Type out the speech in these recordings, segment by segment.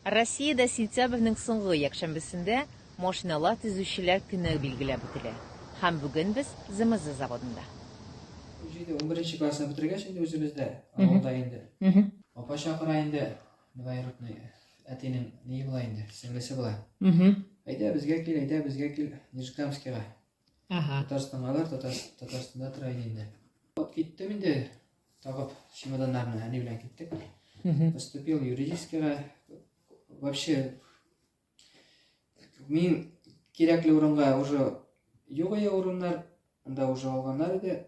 Россиядә сентябрьнең соңгы якшәмбесендә Машиналар төзүчеләр көне билгеләп үтелә. Һәм бүген без ЗМЗ заводында. Үзе инде унберенче классны бетергәч инде үзебездә, авылда инде. Апа чакыра инде, двоюродный әтинең ние була инде, сеңлесе була. Әйдә, безгә кил, әйдә, безгә кил, Нижегамскига. Ага. Татарстангалар Татарстанда тора иде инде. Вот киттем инде, тагып чемоданнарны әни белән киттек. Поступил юридическийга. Вообще мин кирәкле урынга уже юк иде урыннар, анда уже алганнар иде.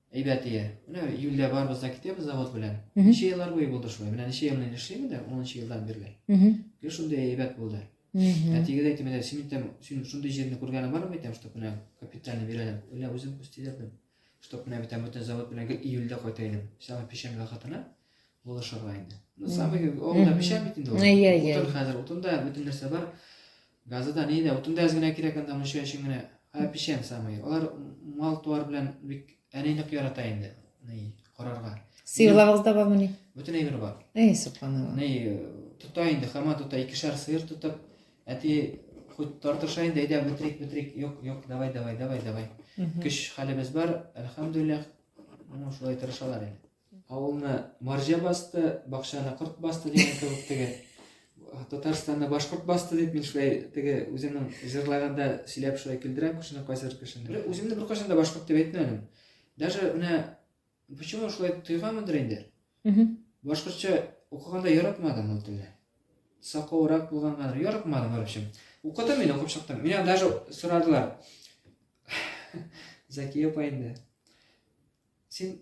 Әйбәт ия. Менә июльдә барыбыз да китәбез завод белән. Ничә еллар буе булды шулай. Менә ничә ел мин эшлим инде, 10 елдан бирле. Гел шундый әйбәт булды. Әтигә дә әйтәм, әйтәм, син әйтәм, син шундый җирне күргәнең бармы әйтәм, чтобы менә капитальный бирәләр. Әллә үзем күз тидердем. Чтобы менә әйтәм, бөтен завод белән гел июльдә кайта идем. Сәгать печәнгә хатына. Булышырга инде. Ну, самый, ул да пешә бит инде. Әйе, әйе. Утын хәзер, утында бөтен нәрсә бар. Газы да, ни дә, утын да әз генә кирәк анда, мунча өчен генә. Ә пешәм самый. Алар мал туар белән бик әни нык ярата инде. Ни, карарга. Сыерларыгыз да бармы ни? Бөтен әйбер бар. Әй, субханалла. Ни, тота инде, хама тота, икешәр сыер тотып, әти хоть тартыша инде, әйдә, бөтрик, бөтрик, юк, юк, давай, давай, давай, давай. Көч хәлебез бар, әлхәмдүлилләх, ну, шулай тырышалар инде. Авылны марҗа басты, бакчаны корт басты дигән кебек теге Татарстанны башкорт басты дип мин шулай теге үземнең җырлаганда сөйләп шулай көлдерәм кешене кайсыр кешене. Үземне беркайчан да башкорт дип әйтмәдем. Даже менә почему шулай тойганмындыр инде. Башкортча укыганда яратмадым ул телне. Сакаурак булганга яратмадым, короче. Укыдым мин, укып чыктым. Меня даже сорадылар. Закия апа инде. Син